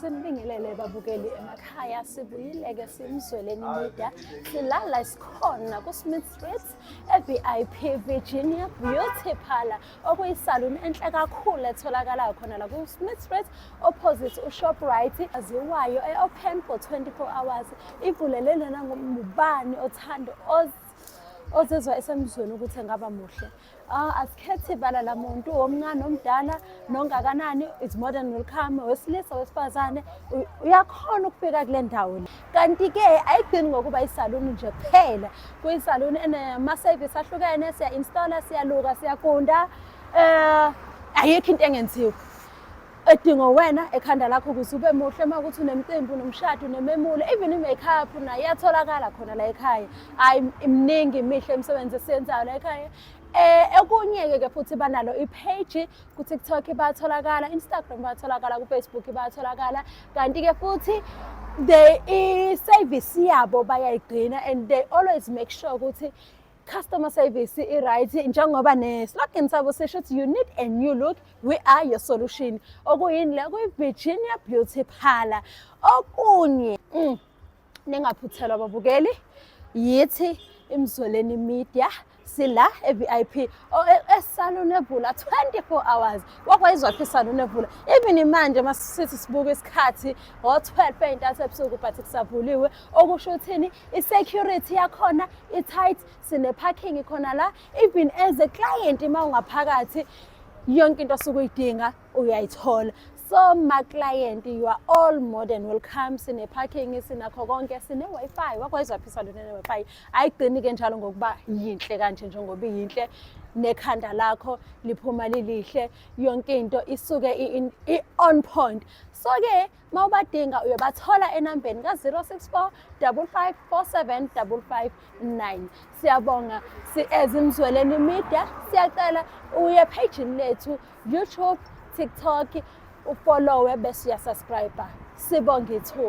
Sinibingelele babukeli emakhaya sibuyileke simzweleni media silala sikhona ku-smith street e-vip virginia beauty parlor okuyisaluni enhle kakhulu etholakalayo khona la ku-smith street opposite ushoprite aziwayo e-open for 24 hours ivulele lona ngubani othanda ozizwa esemzweni ukuthi engaba muhle Ah, asikhethi ibala lamuntu omncane omdala nongakanani is more than welcome wesilisa wesifazane uyakhona ukufika kule ndawo le kanti-ke ayigcini ngokuba isaluni nje kuphela kuyisaluni enama-service ahlukene siya-installa siyaluka siyagunda um ayikho into engenziwa edingo wena ekhanda lakho ukuze ube muhle uma ukuthi unemcimbi unomshado unememulo even i-makeup nayo iyatholakala khona la ekhaya hhayi imningi imihle imisebenzi esiyenzayo la ekhaya Eh okunye-ke ke futhi banalo i-page ku-TikTok batholakala, Instagram batholakala, ku-Facebook batholakala. Kanti-ke futhi they i-service yabo bayayigcina and they always make sure ukuthi customer service i-right njengoba ne-slogan sabo sisho ukuthi you need a new look we are your solution okuyini le kuyi-virginia beauty parlor okunye mm, ningaphuthelwa ababukeli yithi imzoleni media sila e-vip esalon evula 24 hours wakwayizwaphi isalon evula even manje uma sithi sibuka isikhathi ngo-12 ey'ntathu ebusuku but kusavuliwe okusho ukuthini i-security yakhona i-tight sine-parking khona la even as a client uma ungaphakathi yonke into osuke uyidinga uyayithola so ma-client you are all more than welcome sine-parking sinakho konke sine-wi-fi wakwayizwa phisa lona ne-wi-fi ayigcini-ke njalo ngokuba yinhle kanje njengoba iyinhle nekhanda lakho liphuma lilihle yonke into isuke i-on point so-ke uma ubadinga uyobathola enambeni ka-064 5547559 siyabonga si-ezimzweleni media siyacela uye phejini lethu youtube tiktok ufollowe bese uyasubscribe sibonge ithuba